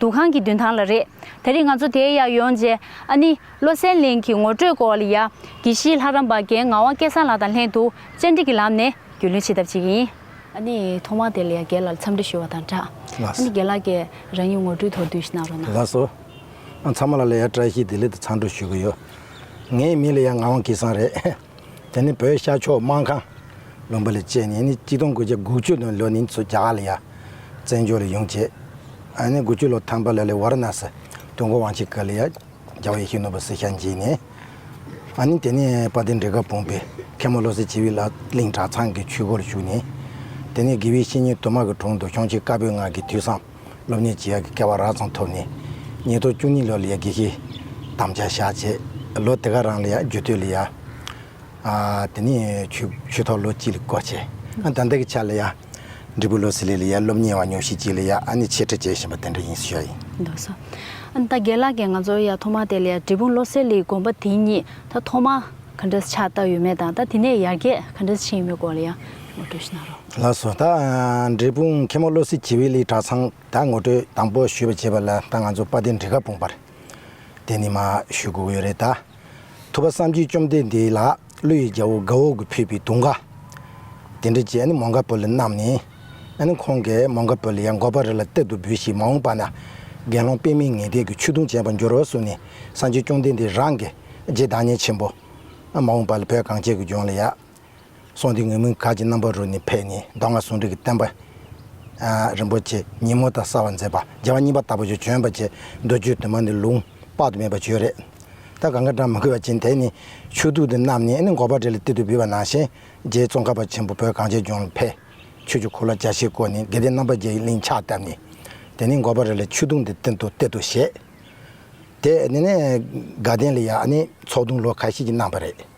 འདུ་ཁང་གི་མདུན་ཐང་ལ་རེད། ད་རིས་ང་ཚོ་དེའི་ཡར་ཡོང་རྗེས། ཨ་ནི། བློ་སེང་གླིང་གི་ངོ་སྤྲོད་སྐོར་ལ་ཡ། དགེ་བཤེས་ལྷ་རམས་པ་རྒན་ངག་དབང་སྐལ་བཟང་ལགས་དང་ལྷན་དུ་བཅར་འདྲི་གི་ལམ་ནས་རྒྱུས་ལོན་བྱེད་ཐབས་བྱེད་ཀྱི་ཡིན། ཨ་ནི། ཐོག་མར་དེ་ལ་ཡ་རྒན་ལགས་ལ་འཚམས་འདྲི་ཞུ་བ་དང་སྦྲགས། ཨ་ནི་རྒན་ལགས་ཀྱིས་རང་ཉིད་ངོ་སྤྲོད་ཐོག་བསྡུས་གཞི་གནང་རོགས་གནང། ལགས་སོ། ཨ་ཚང་མ་ལ་ལ་ཡ་བཀྲ་ཤིས་བདེ་ལེགས་དང་འཚམས་འདྲི་ཞུ་གི་ཡོད། ངའི་མིང་ལ་ཡ་ངག་དབང་སྐལ་བཟང་རེད། དེ་ནི་བོད་ཤར་ཕྱོགས་དམག་ཁང། ལུང་པ་ལ་བཅས་ནས་ནི་སྐྱིད་སྟོང་དགུ་བརྒྱ་དགུ་བཅུ་དང་ལོ་ནི་མཚོ་རྒྱ་གར་ལ་ཡ། བཙན་བྱོལ་ལ་ཡོང་བྱས། ཨ་ནི་དགུ་བཅུ་ལོ་ཐང་པ་ལ་ལི་ཝར་ན་སི། ཏུང་གོ་ཝང་ཆི་ཀ་ལ་ཡ། རྒྱ་བ་ཡེ་ཤེས་ནོར་བུ་སི་ཤ་མཇལ་ནས། ཨ་ནི་དེ་ནས་པ་ཏི་འབྲི་ག་བུང་བས་མཁན་མོ་བློ་གསལ་བྱེ་བི་ལ་གླིང་གྲྭ་ཚང་གི་ཆུས་སྒོ་ལ་ཞུགས་ནས། དེ་ནས་དགེ་བའི་བཤེས་གཉེན་དུ་མ་གི་དྲུང་དུ་ཤོང་ཆེན་དཀར་པོའི་སྔགས་ཀྱི་དུས་སམ། སློབ་གཉེར་བྱེད་ཡག་གི་སྐལ་བ་རགས་ཙམ་ཐོབ་ནས། ཉིས་སྟོང་བཅུ་གཉིས་ལོ་ལ་ཡར་དགེ་བཤེས་དམ་བཅའ་བཞག་རྗེས་ལོ་དེ་ག་རང་ལ་ཡར་རྒྱུ་སྟོད་ལ་ཡར། དེ་ནས་ཆོས་ཐོག་ལོ་གཅིག་ལ་སྐོར་བྱས། ད་ལྟ་གི་ཆར་ལ་ཡར། འབྲི་སྤུ་ལོ་སི་ལེ་ལ་ཡར་སློབ་གཉེར་བ་ཉུང་ཤས་གཅིག་ལ་ཡར་ཨ་ནེ་ཆེ་ཕྲ་བྱེད་བཞིན་པ་དེ་འདྲ་ཡིན་ཤོས་ཡིན། འདུག་ས། ད་རྒན་ལགས་ཀྱིས་ང་ཚོར་ཡར་ཐོག་མར་དེ་ལ་ཡར་འབྲི་སྤུ་ལོ་སི་ལེའི་དགོན་པ་དེ་གཉིས་ད་ཐོག་མར་ག་འདྲ་ཆགས་བཏབ་ཡོད་མེད་དང་ད་དེ་ནས་ཡར་རྒྱས་ག་འདྲ་ཕྱིན་ཡོད་མེད་སྐོར་ལ་ཡང། ངོ་སྤྲོད་ཞུ་གནང་རོགས། ལགས་སོ། ད་འབྲས་སྤུངས་མཁན་མོ་བློ་གསལ་གྱིས་དབྱི་ལིའི་གྲྭ་ཚང་དང་ངོ་སྤྲོད་དང་པོ་ཞུས་པ་བྱས་པ་ལ་ད་ང་ཚོ་པ་ཏི་འབྲི་ཁ་སྤུངས་པར་དེ་ནི་མ་ཞུས་དགོས་ཡོད་རེད་ད། ཐུབ་པ་བསམ་གྱིས་བཅོམ་འདས་འདི་ལ་ཀླུ་ཡི་རྒྱལ་བོ་དགའ་འོག་གི་ཕུད་པའི་དུང་དགའ། དེ་འདྲ་བྱས་ནི་མོང་ག་པོ་ལི་རྣམས་ནི། ཨ་ནི་ཁོང་གས་མོང་ག་པོ་ལི་ཡང་འགོ་པ་རི་ལ་གཏེར་དུ་འབུལ་ཞིག་མ་འོངས་པ་ན་དགེ་སློང་དཔེ་མི་ངེས་དད་ཀྱི་ཆུ་དུང་ཅན་པ་འགྱུར་རོ་གསུངས་ནས་བསམ་གྱིས་བཅོམ་འདས་འདི་རང་གི་རྗེས་བདག་ཉེས་ཆེན་པོ། མ་འོངས་པ་ལ་བོད་གངས་ཅན་གྱི་ལྗོངས་ལ་ཡ། གསུང་འདི་ངོས་མིང་ག་གྱི་རྣམ་པ་རུ་ནི་ཕེབས་ནས་མདོ་སྔགས་ཟུང་འབྲེལ་གྱི་བསྟན་པ། རིན་པོ་ཆེ་ཉིན་མོ་དང་གསར་བ་མཛད་པ་རྒྱལ་བ་གཉིས་པ་དྭགས་པོ་ཆོས་འབྱོན་པ་བཅས་མདོ་རྒྱུད་དུ་མ་ནི་ལུང་དཔག་ཏུ་མེད་པ་བརྗོད་རེད་ད་ག་འགའ་གྲངས་མི་དགོས་པ་ཅན་དེ་ནི་ཆོས་གདུགས་འདི་རྣམས་ནི་ནི་འགོ་པ་རེ་ལ་ཏིལ་དུ་འབུལ་བ་ནང་བཞིན་རྗེའི་ཙོང་ཁ་པ་ཆེན་པོ་བོད་གངས་ཅན་ལྗོངས་ལ་ཕེབས། ཆོས་ཀྱི་གོ་ལ་རྒྱ་ཆེར་བསྐོར་ནས་དགེ་ལྡན་རྣམ་པ་བརྒྱད་ཀྱི་གླིང་ཕྱག་བཏབ་ནས། དེ་ནས་འགོ་པ་རེ་ལ་ཆོས་གདུགས་འདི་སྟེང་དུ་གཏེར་དུ་བཞེས། དེ་ནས་དགའ་ལྡན་ལ་ཡང་ནི་ཚོགས་དུང་ལོ་ག་ཤེད་ཅིག་གནང་བ་རེད།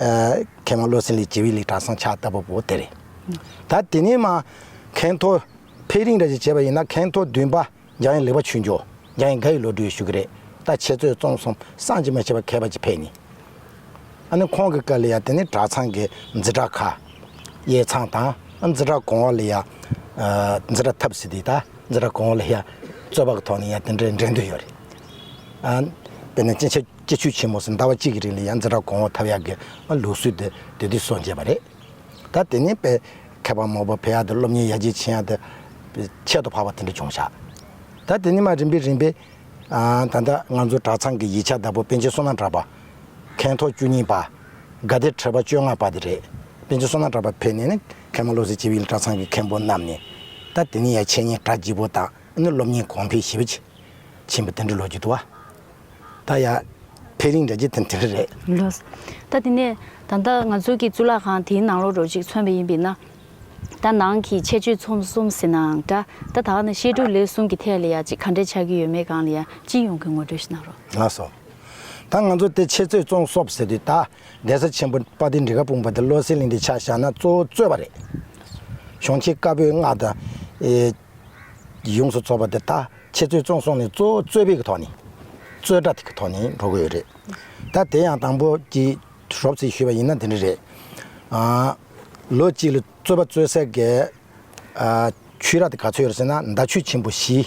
མཁན་བློ་སེང་ལི་ཇི་བི་ལི་གྲྭ་སངས་ཕྱག་བཏབ་པ་པོ་དེ་རེད། ད་དེ་ནས་མ་མཁན་ཐོ་ཕེ་རིང་རེད་ཅེས་བྱས་པ་ཡིན་ན་མཁན་ཐོ་བདུན་པ་རྒྱ་ཡན་ལེགས་པ་ཆུ་འཇོག་རྒྱ་ཡན་དགའ་ཡི་ལོ་དྲུག་ཞུ་གི་རེད་ད་ཁྱེད་ཚོས་བཙོང་སོང་བསང་ཅི་མ་བྱས་པ་གད་པ་ཅི་ཕེད་ནི། ཨ་ནི་ཁོང་གི་བཀའ་ལས་ཡ་དེ་ནི་གྲྭ་ཚང་གི་འཛི་གྲྭ་ཁ་ཡའི་ཚང་དང་འཛི་གྲྭ་གོང་བ་ལས་ཡ་འཛི་གྲྭ་ཐབས་སི་དེ་ད་འཛི་གྲྭ་གོང་བ་ལས་ཡ་རྩོད་པ་གི་ཐོག་ནས་ཡ་དེ་འདྲའི་འགྲན་འདུན་ཡོད་རེད། ཨ་དེ་ནས་ཅི་ཕྱིར། སྐྱེ་ཆུ་ཆེན་མོ་སུམ་ཟླ་བ་གཅིག་གི་རིང་ལ་ཡང་འཛིན་གྲྭ་གོང་འོག་ཐབས་ཡག་གི་ལུགས་སྲོལ་དེ་དུས་དུས་སུ་འབྱེད་པ་རེད། ད་དེ་ནས་དཔེ་མཁས་པ་མོ་པོ་བེ་ཡག་དང་སློབ་གཉེར་ཡ་ཇེ་ཆེན་ཡག་དེ་ཁྱད་དུ་འཕགས་པ་དེ་འདྲ་འབྱུང་བཞག་ད་དེ་ནས་མ་རིམ་པས་རིམ་པས། ད་ལྟ་ང་ཚོ་གྲྭ་ཚང་གི་ཡིག་ཆ་བདག་པོ་དཔལ་ཆེན་བསོད་ནམས་གྲགས་པ། མཁན་ཐོག་བཅུ་གཉིས་པ། དགའ་བདེ་ཁྲི་པ་བཅོ་ལྔ་པ་དེ་རེད། དཔལ་ཆེན་བསོད་ནམས་གྲགས་པ་ཕེབས་ནས་ནི་མཁན་མོ་བློ་གསལ་སྤྱི་བོའི་གླིང་གྲྭ་ཚང་གི་མཁན་པོ་རྣམས་ནས། ད་དེ་ནས་ཡ་ཆེན་ཉིན་གྲྭ་སྤྱི་བོ་དང་ནི་སློབ་གཉེར་གོང་འཕེལ་ཞི་བ་ཆེན་པོ་དེ་འདྲ་ལོ་རྒྱུས་དུ་བ། ད་ཡ། ཕེ་རིང་འདྲ་རྒྱུ་དེ་འདི་རེད། ལོས། ད་དེ་ནས། ད་ལྟ་ང་ཚོའི་གི་གཙུག་ལག་ཁང་དེའི་ནང་ལོག་འགྲོ་ཅིག་མཚོན་པ་ཡིན་པས་ན། ད་ནང་གི་ཆད་གཅོད་ཚོམ་གསུམ་ཟེར་ནའང་འདྲ། ད་ད་ནི་བཤད་སྒྲུབ་ལས་གསུམ་གི་ཐད་ལ་ཡང་ཅིག་ག་འདྲས་ཆགས་ཀྱི་ཡོད་མེད་གང་ལ་ཡང་ཅི་ཡོང་གི་ངོ་སྤྲོད་ཞིག་གནང་རོགས། ལགས་སོ། ད་ང་ཚོ་དེ་ཆད་གཅོད་ཚོམ་གསོབ་ཟེར་དུས་ད་གདན་ས་ཆེན་པོ་དཔའ་དེ་འབྲི་ག་སྤུངས་པ་དེ་བློ་གསལ་གླིང་དེ་ཆ་བཞག་ན་གཙོ་བོ་རྩོད་པ་རེད། གཞོན་སྐྱེས་དཀར་པོའི་སྔགས་དང། ཡོངས་སུ་རྫོགས་པ་འདི་དག་ཁྱེད་ཚོས་བཙོང་སོང་ནས་གཙོ་བོ་རྩོད་པའི་གི་ཐོག་ནས། རྩོད་གྲྭ་དེ་གི་ཐོག་ནས་འགྲོ་གི་ཡོད་རེད། ད་དེ་ཡང་དང་པོ་གི་རོབ་ཚིག་ཞུས་པ་ཡིན་ན་འདི་འདྲ་རེད། ལོ་གཅིག་ལ་རྩོད་པ་རྩོད་སའི་གི། ཆོས་ར་དེ་ག་ཚོད་ཡོད་རེད་ཟེར་ན་མདའ་ཆོས་ཆེན་པོ་བཞི།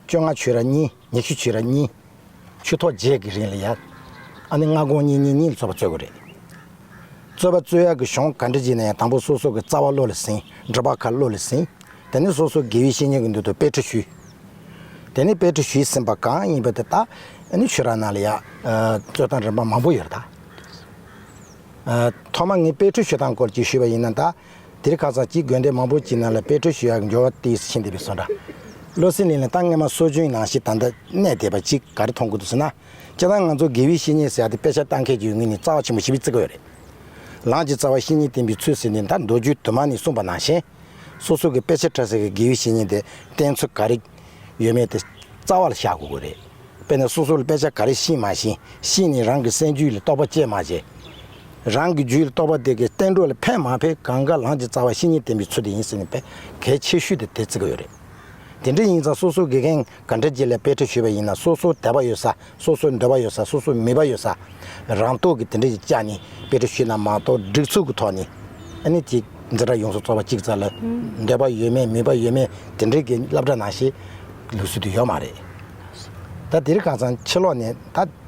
བཅོ་ལྔ་ཆོས་ར་གཉིས། ཉི་ཤུ་ཕྱེད་ར་གཉིས། ཆུ་ཐོག་བརྒྱད་ཀྱི་རིང་ལ་ཡར། ཨ་ནི་སྔ་དགོང་གཉིས་གཉིས་གཉིས་ལ་རྩོད་པ་རྩོད་དགོས་རེད། རྩོད་པ་རྩོད་ཡག་གི་གཞུང་ག་འདྲ་བགྱིས་ན་ཡང་དང་པོ་སོ་སོ་གི་རྩ་བ་བློ་ལ་ཟིན་སྒྲུབ་པ་ཁ་བློ་ལ་ཟིན། དེ་ནས་སོ་སོ་དགེ་བའི་བཤེས་གཉེན་གྱི་མདུན་དུ་དཔེ་ཁྲིད་ཞུས། དེ་ནས་དཔེ་ཁྲིད་ཞུས་ཟིན་པ་གང་ཡིན་པ་དེ་དག་ཨ་ནི་ཆོས་ར་ནང་ལ་ཡར། རྩོད་སྟངས་རིམ་པ་མང་པོ་ཡོད་རེད་ད། ཐོག་མ་ངས་དཔེ་ཁྲིད་ཞུ་སྟངས་སྐོར་གྱི་ཞུས་པ་ཡིན་ན་ད། འདིར་ཁ་སང་སྐྱིད་དགོན་སྡེ་མང་པོ་སྐྱིད་སྣང་ལ་དཔེ་བཀྲོལ་ཞུ་ཡག་གི་འབྱོར་བ་དེ་ཕྱིན་བསྡད་པའི་བཟོ་འདྲ། བློ་སེང་ལིན་ལ་ཏང་སྔོན་མ་གསོ་བྱུང་ཡིན་ནང་ཞིག་ད་ལྟ་གནས་བསྡད་པ་ཅིག་ག་རེ་མཐོང་དགོས་འདུག་ཟེར་ན། སྤྱིར་བཏང་ང་ཚོ་དགེ་བའི་བཤེས་གཉེན་ཟེར་ཡག་དེ་དཔེ་ཆ་བལྟ་མཁན་གྱི་ཡུལ་དངོས་ནི་རྩ་བ་ཆེན་པོ་ཞིག་བརྩི་དགོས་ཡོད་རེད། ལངས་ཀྱི་རྩ་བ་བཤེས་གཉེན་བསྟེན་པའི་ཚུལ་ཟེར་ནས་མཐར་མདོ་རྒྱུད་དུ་མ་ནས་གསུངས་པ་ནང་བཞིན། སོ་སོ་གི་དཔེ་ཆ་ཕྲ་ཟེར་གྱི་དགེ་བའི་བཤེས་གཉེན་དེ་བསྟེན་ཚུལ་ག་རེ་ཡོད་མེད་དེ་རྩ་བ་ལ་བཞག་དགོས་ཀྱི་རེད། དཔེར་ན་སོ་སོ་ལ་དཔེ་ཆ་ག་རེ་ཤེས་མ་ཤེས་ཤེས་ནས་རང་གི་སེམས་རྒྱུད་ལ་རྟོག་པ་སྐྱེས་མ་བྱས། རང་གི་རྒྱུད་ལ་གཏོགས་པ་དེ་གའི་བསྟན་འགྲོ་ལ་ཕན་མ་ཕན་གང་དགའ་ལངས་ཀྱི་རྩ་བ་བཤེས་གཉེན་བསྟེན་པའི་ཚུལ་དེ་ཡིན་ཟེར་ནས་དཔེ་གལ་ཆེ་ཤོས་དེ་དེ་བརྩི་གི་ཡོད་རེད། དེ་འདྲ་ཡིན་ཙང་སོ་སོའི་དགེ་རྒན་ག་འདྲ་ཅིག་ལ་དཔེ་ཁྲིད་ཞུས་པ་ཡིན་ན་སོ་སོའི་དད་པ་ཡོད་ས་སོ་སོའི་འདོད་པ་ཡོད་ས་སོ་སོའི་མོས་པ་ཡོད་ས་རང་རྟོགས་ཀྱིས་དེ་འདྲ་ཞིག་བཅག་ནས་དཔེ་ཁྲིད་ཞུས་ན་མ་གཏོགས་སྒྲིག་ཚུགས་ཀྱི་ཐོག་ནས་ཨ་ནི་ཅིག་འཛིན་གྲྭ་ཡོངས་སུ་རྩོག་པ་གཅིག་ཙམ་ལ་འདོད་པ་ཡོད་མེད་མོས་པ་ཡོད་མེད་དེ་འདྲའི་གྱི་བསླབ་གྲྭ་ནང་ཞིག་ལུགས་སྲོལ་དུ་ཡོད་མ་རེད། ད་དེ་རིགས་གང་ཙམ་ཕྱི་ལོགས་ནས་ད།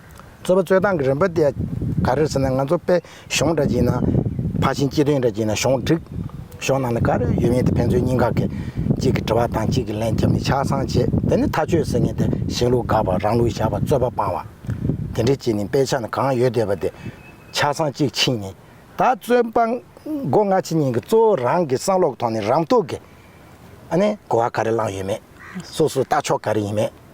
རྩོད་པ་རྩོད་སྟངས་ཀྱི་རིམ་པ་དེ་ག་རེད་ཟེར་ན་ང་ཚོ་དཔེ་གཞུང་འདྲ་གྱིས་ན་ཕར་ཕྱིན་སྤྱི་དོན་འདྲ་གྱིས་ན་གཞུང་བསྒྲིགས། གཞུང་ནང་ལ་ག་རེ་ཡོད་མེད་དེ་ཕན་ཚུན་གཉིས་ཀ་གིས་གཅིག་གི་དྲི་བ་དང་གཅིག་གིས་ལན་བརྒྱབ་ནས་ཆ་ཚང་བྱེད་དེ་ནི་མཐའ་དཔྱོད་ཟེར་ངེས་དེ་གཞན་ལུགས་དགག་པ་རང་ལུགས་བཞག་པ་རྩོད་པ་སྤང་བ། དེ་འདྲའི་གྱིས་ནི་དཔེ་ཆ་ནི་གང་ཡོད་བལྟས་པ་དེ་ཆ་ཚང་གཅིག་ཕྱིན་ནས་ད་རྩོད་སྤང། མགོ་སྔ་ཕྱི་གཉིས་ཀྱི་གཙོ་བོ་རང་གི་བསམ་བློ་གི་ཐོག་ནས་རང་རྟོགས་ཀྱིས་ཨ་ནི་གོ་བ་ག་རེ་བླངས་ཡོད་མེད། སོ་སོའི་ལྟ་ཕྱོགས་ག་རེ་ཡིན་མེད།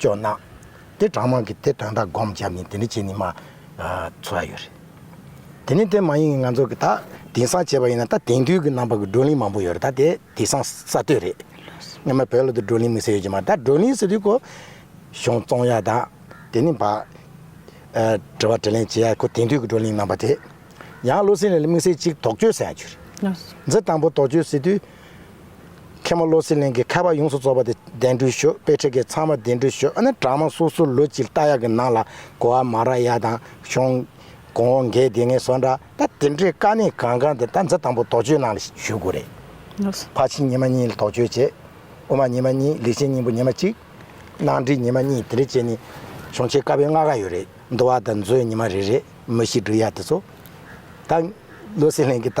ཅོ་ནང། དེ་གྲངས་མང་གི་དེ་གྲངས་དག་སྒོམ་བྱ་མིན་དེ་འདྲ་བྱེད་ནི་མ། ཚོ་བ་ཡོད་རེད། དེ་ནི་དེ་མ་ཡིན་ང་ཚོ་གི་ད་དེང་སང་བྱེད་པ་ཡིན་ན་ད་དེང་དུས་ཀྱི་རྣམ་པ་གི་བགྲོ་གླིང་མང་པོ་ཡོད་རེད་ད་དེ་དེ་སང་ས་སྟོད་རེད། སྔོན་མ་བོད་ལ་དུ་བགྲོ་གླིང་མི་ཟེར་ཡོད་ཀྱི་མ་ད་བགྲོ་གླིང་ཟེར་དུས་ཀོ། གཞུང་བཙོང་ཡ་དང། དེ་ནི་བ། དྲི་བ་དྲི་ལན་བྱེད་ཡ་ཁོ་དེང་དུས་ཀྱི་བགྲོ་གླིང་རྣམ་པ་དེ། ཡང་བློ་སེང་ལས་ལ་དམིགས་བསལ་གཅིག་དོགས་གཅོད་ཟེར་ཡང་བྱུ་རེད། འཛི་དང་པོ་དོགས་གཅོད་ཟེར་དུས། མཁན་པོ་བློ་གསལ་གླིང་གི་ཁ་བ་ཡོངས་སུ་རྫོགས་པ་དེ་གདན་བསྒྲུགས་ཞུ་དཔེ་ཁྲིད་ཀྱི་ཚང་མ་གདན་བསྒྲུགས་ཞུ་ཨ་ནི་གྲྭ་མང་སོ་སོའི་ལོ་གཅིག་རྟ་ཡག་གི་ནང་ལ་གོ་བ་མ་ར་ཡ་དང་གཞུང། གོང་འོག་འགལ་འདི་ངས་སོ་འདྲ་ད་དེ་འདྲའི་དཀའ་གནད་གང་གང་དེ་ད་འཛི་དང་པོ་དོགས་གཅོད་ནང་ལ་ཞུས་དགོས་རེད། ཕ་ཕྱི་ཉི་མ་གཉིས་ལ་དོགས་གཅོད་བྱེད། དབུ་མ་ཉི་མ་གཉིས་ལེགས་བྱས་སྙིང་པོ་ཉི་མ་གཅིག། གནང་སྒྲིག་ཉི་མ་གཉིས་དེ་འདྲ་བྱས་ནི། གཞུང་ཆེ་དཀའ་བའི་ལྔ་ག་ཡོད་རེད་འདུག་བ་ད་མཛོད་ཉི་མ་རེ་རེ་མི་ཤི་འགྲུལ་ཡག་དེ་ཚོ། ད་བློ་གསལ་གླིང་གི་ད་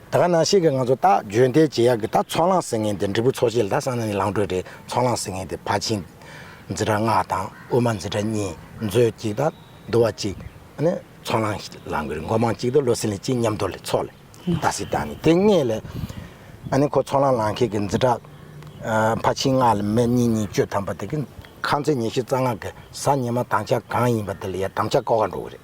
ད་ག་ནང་ཤེས་ཀི་ང་ཚོ་ད་བརྗོད་འདས་རྗེས་ཡག་གི་ད་ཚོང་ལང་ཟེར་ངེས་འདི་འབྲི་བུ་ཚོ་ཤེས་ལ་ད་སང་ན་ནི་ལང་གྲོས་རེད་ཚོང་ལང་ཟེར་ངེས་འདི་ཕ་ཆིང། འཛི་དྲ་ལྔ་དང་དབུ་མ་འཛི་དྲ་གཉིས་མཛོད་གཅིག་དང་འདུ་བ་གཅིག་ནི་ཚོང་ལང་ལང་གི་རེད་མགོ་མང་གཅིག་དུ་བློ་སེང་ལི་གཅིག་མཉམ་དུ་ལི་ཚོགས་ལི་ད་སི་ད་ནི་དེ་ངེས་ལེ་ཨ་ནི་ཁོ་ཚོང་ལང་ལང་ཁེ་གི་འཛི་དྲ་ཕ་ཆིང་ལྔ་ལི་མེ་གཉིས་གཉིས་གཅོད་ཐམ་པ་དེ་གི་ཁང་ཚན་ཉེ་བཞི་རྩ་ལྔ་གི་ས་ཉེ་མ་དང་ཆ་གང་ཡིན་པ་དེ་ལི་ཡ་དམ་ཆ་ཀོ་ག་འགྲོ་གི་རེད།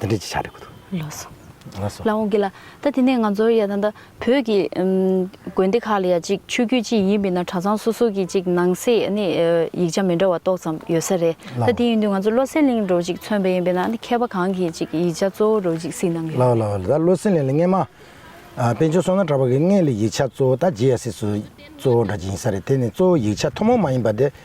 འདི་འདྲས་ཀྱི་ཆ་རེད་གོ་ཐུག། ལོག་སོང། ལོག་སོང། ལ་འོང་གི་ལ། ད་དེ་ནས་ང་ཚོར་ཡ་ད་ད་བོད་ཀྱི། དགོན་སྡེ་ཁག་ལ་ཡ་ཅིག་ཆོས་བརྒྱུད་ཅི་ཡིན་མིན་ན་གྲྭ་ཚང་སོ་སོ་གྱི་ཅིག་ནང་གསེས་ནི་ཡིག་ཆ་མི་འདྲ་བ་ཏོག་ཙམ་ཡོད་ས་རེད། ད་དེ་ཡིན་དུས་ང་ཚོ་བློ་སེང་གླིང་འགྲོ་ཅིག་མཚོན་པ་ཡིན་པས་ན་མཁས་པ་གང་གིས་ཅིག་ཡིག་ཆ་གཙོ་བོ་རུ་ཅིག་གཟིགས་གནང་གི་ལ་ཡོད། ལ་ཡོད་ལ། ད་བློ་སེང་གླིང་ལ་སྔན་མ། དཔལ་ཆུང་བསོད་ནམས་གྲགས་པ་གིས་སྔས་ལ་ཡིག་ཆ་གཙོ་བོ་ད་རྗེ་ཡ་སེ་སུ་གཙོ་བོ་འདྲ་ཅིག་ཡིན་ས་རེད་དེ་ནི་གཙོ་བོ་ཡིག་ཆ་ཐུན་མོང་མ་ཡིན་པ་དེ་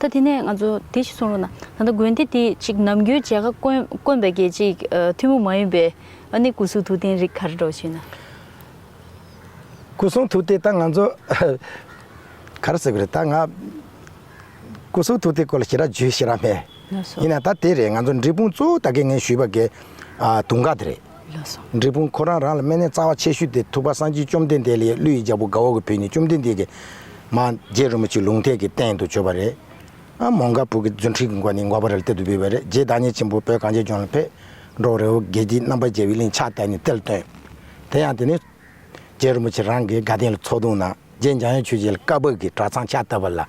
ད་དེ་ནས་ང་ཚོ་དེ་ཞིག་གསུང་རོགས་གནང། ད་ལྟ་དགོན་སྡེ་འདི་གཅིག་ནམ་རྒྱུན་མཇལ་ཁ་དཀོན་དཀོན་པའི་གེགས་གཅིག་ཐུན་མོང་མ་ཡིན་པའི་ཨ་ནེ་སྐུ་གསུང་ཐུགས་རྟེན་རིགས་གར་འགྲོ་ཞེ་ན། སྐུ་གསུང་ཐུགས་རྟེན་ད་ང་ཚོ་གར་ཟེར་གི་རེད་ད་ང་སྐུ་གསུང་ཐུགས་རྟེན་སྐོར་ལ་ཞེ་དྲག་ཇུས་ཞེ་དྲག་མེད། ཡིན་ན་ད་དེ་རེད་ང་ཚོ་འབྲས་སྤུངས་གཙོ་བོ་ད་གེ་ངས་ཞུས་པ་གེ་དུང་དཀར་དེ་རེད། འབྲས་སྤུངས་ཁོ་རང་རང་ལ་སྨན་གནས་རྩ་བ་ཆེ་ཤོས་དེ་ཐུབ་པ་སངས་རྒྱས་བཅོམ་ལྡན་འདས་ལས་ཀླུ་ཡི་རྒྱལ་པོ་དགའ་འོག་གི་བུ་ནི་བཅོམ་ལྡན་འདས་ཀྱི། མ། རྗེ་རིན་པོ་ཆེའི་ལུང་ཐད་ཀྱི་སྟེང་དུ་བྱོན་པ་རེད། ཨ། མོང་ག་བུ་གི་རྫུན་ཁྲིགས་ཀྱི་མགོ་ནི་མགོ་བོ་རལ་སྟེ་དུ་བུད་པ་རེད་རྗེ་བདག་ཉིད་ཆེན་པོ་བོད་གངས་ཅན་ལྗོངས་ལ་ཕེབས། འབྲོག་རི་བོ་དགེ་བརྒྱད་རྣམ་པར་རྒྱལ་བའི་གླིང་ཕྱག་བཏབ་ནས་གཏེར་བཏོན། དེ་ཡང་དེ་ནས། རྗེ་རིན་པོ་ཆེ་རང་གི་དགའ་ལྡན་ལ་ཚོགས་བརྡུང་ན་རྗེ་འཇམ་དབྱངས་ཆོས་རྗེ་ལ་བཀའ་བབས་ཀྱི་གྲྭ་ཚང་ཕྱག་བཏབ་པ་ལ།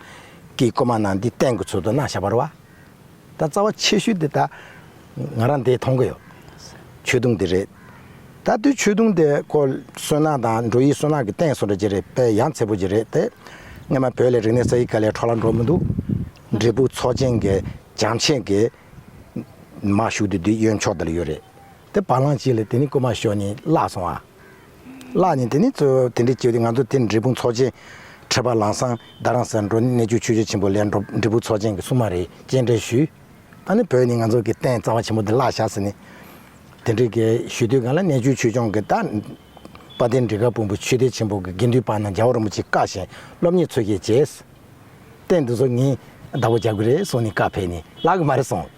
ཀྱི་བཀོད་མ་གནང་འདི་བསྟན་གྱི་ཚུལ་དུ་གནང་བྱ་བར་བ། ད་རྩ་བ་ཆེ་ཤོས་དེ་ད་ང་རང་འདིས་མཐོང་གི་ཡོད། ཆོས་དུང་དེ་རེད། ད་དུས་ཆོས་དུང་དེ་ཁོ་བསོད་ནམས་དང་འགྲོ་ཡིས་བསོད་ནམས་ཀྱི་སྟེང་སོ་འགྲོ་གྱི་རེད་དཔེ་ཡང་ཚེ་པོ་གྱི་རེད་དེ། སྔན་མ་བོད་ལས་རིག་གནས་ས་ཡི་ག་ལས་འཕྲོ་ལ་འགྲོ་མི་འདུག་འབྲས་བུ་ཚོགས་ཆེན་གྱི་བྱམས་ཆེན་གྱི་མ་ཞུགས་དུས་འདི་གཡོན་ཕྱོགས་འདི་ལ་ཡོད་རེད། དེ་བ་ལང་གཅིག་ལས་དེ་ནི་རྐུན་མ་ཞོ་ནི་བརླག་སོང་ཨ། བརླག་ནས་དེ་ནི་གཙོ་བོ་དེ་འདྲས་བཅོས་ཏེ་ང་ཚོ་དེ་འབྲས་སྤུངས་ཚོགས་ཆེན་ཁྲི་བ་ལང་སང་རྡ་རང་སར་འགྲོ་ནི་གནས་བཅུ་ཆོས་རྗེ་ཆེན་པོ་ལས་འབྲས་སྤུངས་ཚོགས་ཆེན་གྱི་སྲུང་མ་རེད་སྐྱེལ་འདྲེན་ཞུས། ད་ནི་བོད་ནི་ང་ཚོ་གི་རྟེན་རྩ་བ་ཆེན་པོ་འདི་བརླག་བཞག་ཟེར་ནས། དེ་འདྲས་གི་ཞུས་དུས་གང་ལ་གནས་བཅུ་ཆོས་སྐྱོང་གི་རྟ། དཔའ་དེ་འདྲས་གར་སྤུངས་པའི་ཆོས་སྡེ་ཆེན་པོ་གི་དགེ་འདུན་དཔའ་ན་རྒྱལ་བ་རིན་པོ་ཆེ་བཀའ་བཞིན་སློབ་གཉེར་འཚོལ་བཤད་བྱས། རྟེན་འདི་ཚོ་ངས་བདག་པོ་རྒྱག་གི་རེད་གསུངས་ནས་བཀའ་ཕེབས་ནས་བརླག་གི་མ་རེད་གསུངས།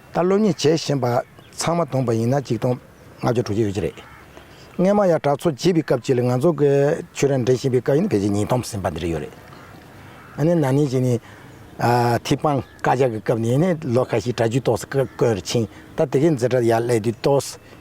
ད་བློ་ཉེས་བྱས་བཞིན་པ་ཚང་མ་དོངས་པ་ཡིན་ན་གཅིག་སྟོང་ལྔ་བརྒྱ་དྲུག་བརྒྱ་ཡོད་ཀྱི་རེད། རྔན་མ་ཡག་དྲག་འཚོ་བྱེད་པའི་སྐབས་ཅིག་ལ་ང་ཚོ་གི་ཆོས་ར་འདྲེ་བཞིན་པའི་སྐབས་ཡིན་ན་ཕལ་ཆེར་ཉིས་སྟོང་ཟིན་པ་འདི་རིགས་ཡོད་རེད། ཨ་ནི་ན་ནིང་ཅིག་ནི། ཐིག་དཔང་བཀའ་རྒྱ་གི་སྐབས་ནས་ནི་ལོ་ཁ་ཤས་གྲྭ་རྒྱུད་ཏོག་སེ་བཀོད་རེ་ཕྱིན་ད་དེ་གའི་མཛད་གྲྭ་ཡར་གླས་དུས་ཏོག་སེ་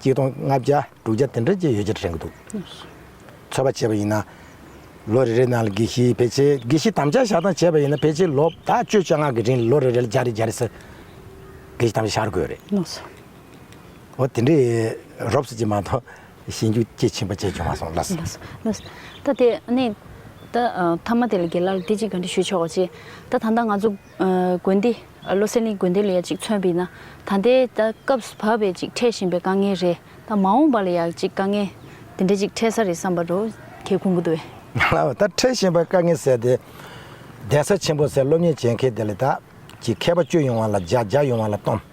གཅིག་སྟོང་ལྔ་བརྒྱ་དྲུག་བརྒྱ་དེ་འདྲ་བཅས་ཡོད་ཅེས་དྲན་གྱི་འདུག་ཚོད་པ་བྱས་པ་ཡིན་ན། ལོ་རེ་རེའི་ནང་ལ་དགེ་བཤེས་ཕལ་ཆེར་དགེ་བཤེས་དམ་བཅའ་བཞག་སྟངས་བྱས་པ་ཡིན་ན་ཕལ་ཆེར་ལོ་དག་བཅོ་བཅུ་ལྔ་གི་རིང་ལ་ལོ་རེ་རེ་ལ་བརྒྱ་རེ་བརྒྱ་རེ་ཟེར་དགེ་བཤེས་དམ་བཅའ་བཞག་དགོས་རེད། འོ་དེ་འདྲའི་རོབ་ཙེ་ཅིག་མ་གཏོགས་ཤེས་འཇུག་སྐྱེ་ཆེན་པོ་བཅས་བྱུང་མ་སོང་ལ། ད་དེ་ནས་ད་ཐ་མ་དེ་ལ་དགེ་ལ་ལ་དེ་ཅིག་ག་འདྲི་ཞུ་ཆོག་ཅེས་ད་ད་ལྟ་ང་ཚོ། དགོན་སྡེ། བློ་སེང་གླིང་དགོན་སྡེ་ལ་ཡང་ཅིག་མཚོན་པའི་ན། ད་ལྟའི་ད་སྐབས་བབ་པའི་ཅིག་འཕྲད་བཞིན་པའི་དཀའ་ངལ་རེད། ད་མ་འོངས་པ་ལ་ཡང་ཅིག་དཀའ་ངལ་དེ་འདྲ་ཅིག་འཕྲད་ས་རེད་བསམ་པ་རུ་ཁྱེད་ཁུང་གུ་དོ་བས། ལ་བ་ད་འཕྲད་བཞིན་པའི་དཀའ་ངལ་ཟེར་ཏེ། གདན་ས་ཆེན་པོ་ཟེར་སློབ་གཉེར་བྱེད་མཁན་དེ་ལས་ད་ཅིག་མཁས་པ་བཅུ་ཡོང་བ་ལ་བརྒྱ་བརྒྱ་ཡོང་བ་ལ་སྟོང།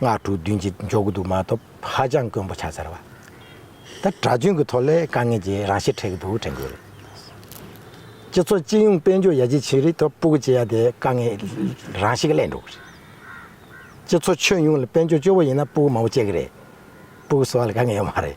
སྔགས་དྲུག་བདུན་གྱི་འཇོག་གི་འདུག་མ་ཐོབ་ཧ་ཅང་དཀོན་པོ་ཆགས་ཚར་བ། ད་གྲྭ་རྒྱུན་གྱི་ཐོག་ལས་དཀའ་ངལ་གྱི་རང་ཤེད་འཕྲད་ཀྱི་འདུག་དྲན་གྱི་རེད། སྤྱི་ཚོགས་སྤྱི་ཡོངས་དཔལ་འབྱོར་ཡར་རྒྱས་ཕྱིན་རིག་ཐོག་སྤུ་གུ་བྱེད་ཡ་དེ་དཀའ་ངལ་རང་ཤེད་གླས་འགྲོ་གི་རེད། སྤྱི་ཚོགས་ཁྱོན་ཡོངས་ལ་དཔལ་འབྱོར་སྐྱོ་བོ་ཡིན་ན་སྤུ་གུ་མང་པོ་བྱེད་ཀྱི་རེད། སྤུ་གུ་བཟོ་བ་ལ་དཀའ་ངལ་ཡོད་མ་རེད།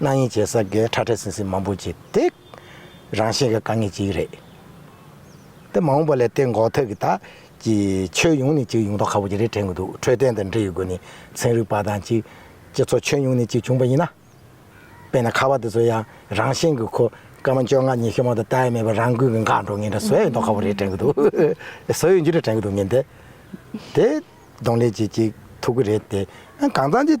གནའ་དབྱིན་ཇའི་ས་དགེ་ཁྲ་ཁྲ་ཟིང་ཟིང་མང་པོ་བྱེད་དེ། རང་བཞིན་གྱི་དཀའ་ངལ་ཅིག་རེད། དེ་མ་འོངས་པ་ལས་དེ་འགོག་ཐབས་ཀྱི་ཐག་གིས་ཆོས་ཡོངས་ནས་ཅིག་ཡོང་ཐབས་ཁག་པོ་ཅིག་རེ་དྲན་གྱི་འདུག་འཕྲོད་བསྟེན་དང་འབྲེལ་ཡོད་སྒོ་ནས་ཚན་རིག་པ་དང་ཅིག་སྤྱི་ཚོགས་ཁྱོན་ཡོངས་ནས་ཅིག་བྱུང་པ་ཡིན་ན། དཔེར་ན་ཁ་བ་དེ་ཚོ་ཡང་རང་བཞིན་གྱི་ཁོ་སྐར་མ་བཅོ་ལྔ་ཉི་ཤུ་མ་དང་བལྟ་ཡས་མེད་པར་རང་འགུལ་གྱི་འགག་འགྲོ་ངེས་འདྲ་བཟོ་ཡས་མདོག་ཁག་པོ་རེ་དྲན་གྱི་འདུག་བཟོ་ཡས་འཇུ་རེ་དྲན་གྱི་འདུག་ངེས་འདས་དེ་གདོང་ལེན་བྱེད་ཅིག་ཐུབ་ཀྱི་རེད་དེ། གང་ཙམ་ཅིག་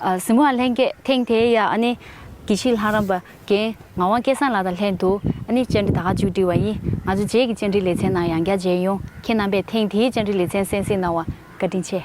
གཟིམ་བ་ལྷན་རྒྱས་ཐེངས་དེའི་ཡ་ཨ་ནི་གྱི་ཕྱི་ལྷ་རམས་པ་རྒན་ངག་དབང་སྐལ་བཟང་ལགས་དང་ལྷན་དུ་ཨ་ནི་བཅར་འདྲི་ད་ག་མཇུག་སྒྲིལ་བ་ཡིན་ང་ཚོ་རྗེས་ཀྱི་བཅར་འདྲིའི་ལེ་ཚན་ནང་ཡང་བསྐྱར་མཇལ་ཡོང་ཁྱེད་རྣམ་པས་ཐེངས་དེའི་བཅར་འདྲི་ལེ་ཚན་གསན་གཟིགས་གནང་བར་བཀའ་དྲིན་ཆེ།